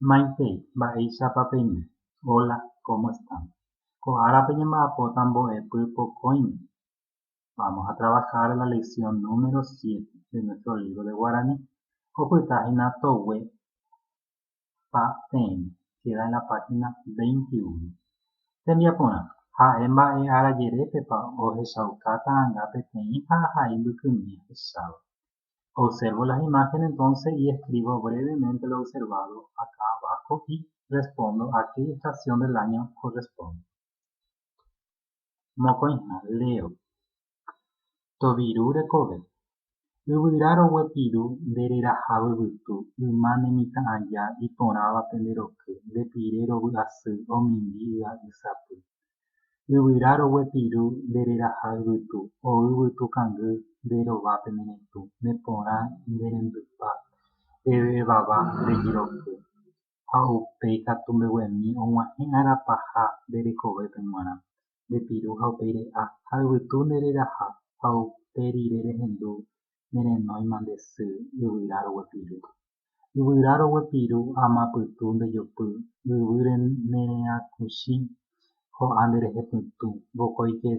Maitei, mba'éichapa peime? Hola, cómo están? Ko árape ñamba'apóta mbo'epy pokõime. Vamos a trabajar la lección número siete de nuestro libro de guaraní. Opyta hína toguépa peẽme, queda en la página veintiuno. Tembiaporã, Ha'e mba'e ára jerépepa ohechauka ta'ãnga peteĩ ha ahai mbykymi ahecháva. Observo las imágenes entonces y escribo brevemente lo observado acá abajo y respondo a qué estación del año corresponde. Mokõiha, leo. Toviru rekove. Yvyra roguepiru nde reraha vyvytu, yma ne mitã aja, iporãva pende roky, nde pire rovy'asy, omimbi y'a y sapy. Yvyra roguepiru nde reraha yvytu, o yvytu kangy nde rova pe neretũ, ne porã nde rembypa, pe vevava rejiroky, ha upéi katu mbeguemi og̃uahẽ ára paha nde rekovépe g̃uarã, nde piru ha upéi re'a, ha yvytu nde reraha, ha upe rire rehendu ne renóima nde sy, yvyra roguepiru. Yvyra roguepiru ama pytu ndejopy Yvýre nereakuchi ho'a nderehepytũ Vokóike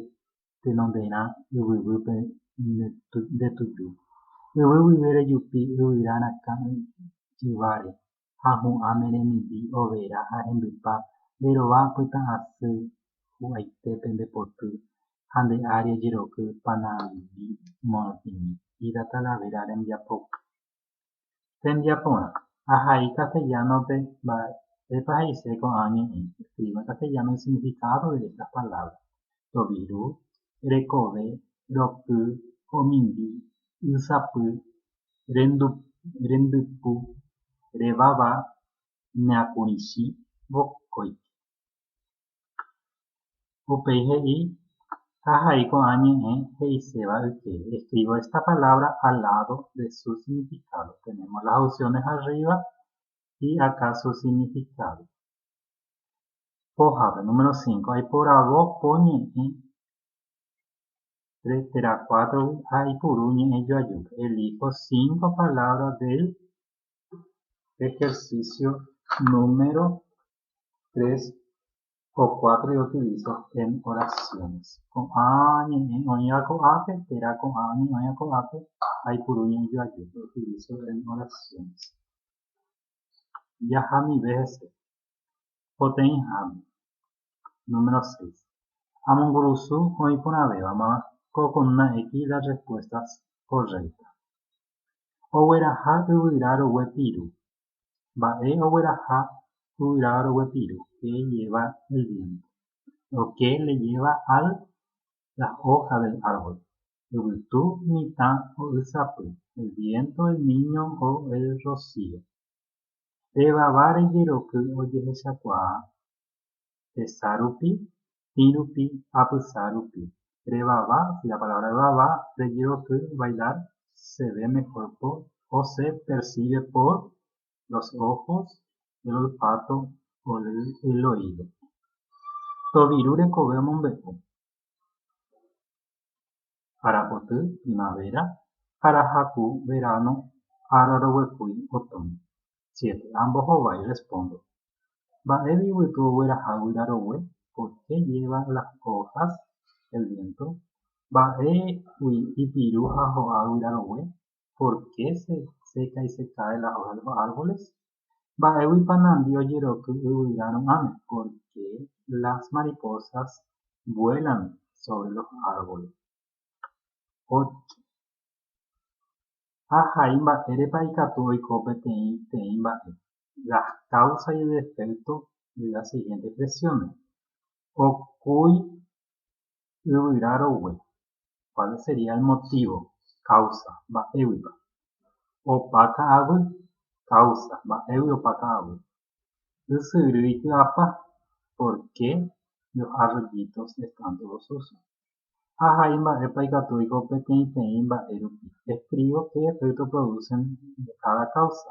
tenonderã yvyvýpe ndetuju Yvy guive rejupi yvyra rakã yváre Ha hu'ã meremimbi overa ha rembypa Nderova pytã'asy hu'aitépe ndepoty Ha nde ári ojeroky panambi morotĩmi Ida Talavera rembiapoky Hembia porã. Ahai castellano-pe mba'épa he'ise ko'ã ñe'ẽ, escriba en castellano el significado de estas palabras, toviru, rekove, roky, omimbi, ysapy, rendypu, revava, neakũrichi, vokóike. Upéi he'i, Ahai ko'ã ñe'ẽ he'iséva yke, escribo esta palabra al lado de su significado. Tenemos las opciones arriba y acá su significado. Pójape, número 5. Aiporavo po ñe'ẽ tre- térã cuátrogui ha aipuru ñe'ẽ joajúpe. Elijo cinco palabras del Ejercicio número 3 o 4 de utilizo en oraciones. Ko'ã ñe'ẽ oĩva ko'ápe, térã ko'ã ñe'ẽ oĩva ko'ápe, aipuru ñe'ẽjoaju, lo utilizo en oraciones. Jahamive hese, poteĩháme. Número 6. Amongurusu oĩ porãvévama ko columna X las respuestas correctas. Ogueraha yvyra rogue piru. Mba'e ogueraha yvyra rogue piru? Ke lleva el viento. Lo que le lleva a las hojas del árbol. Yvytu mitã ho'ysapy. El viento, el niño o el rocío. Pe vava rejeroky ojehechakuaa. hesa rupi, tĩ rupi, apysa rupi. Revava, si la palabra revava, rejeroky, bailar, se ve mejor por, o se percibe por, los ojos, el olfato, el oído. Toviru rekove omombe'u. arapoty, primavera, arahaku, verano, ára roguekúi, otoño. Siete, ambohovái, respondo. Mba'épa yvytu ogueraha guyra rogue? Por qué lleva las hojas el viento? Mba'épa ipirũ ha ho'a guyra rogue? pórke se seca y se cae las hojas de los árboles? Mba'éguipa nandi ojeroky yvyra ru'ãme, pórke las mariposas vuelan sobre los árboles? Pórke ha hai mba'érepa ikatu oiko peteĩ teĩ mba'e, las causas y defectos de las siguientes expresiones, okúi yvyra rogue, kuál sería el motívo, káusa, mba'éguipa opa ka'aguy, káusa, mba'égui opa ka'aguy, ysyry iky'ápa, por ké los arroyitos están todos sucios, ha hai mba'épa ikatu oiko peteĩteĩ mba'e rupi, escribo qué efecto producen de cada causa.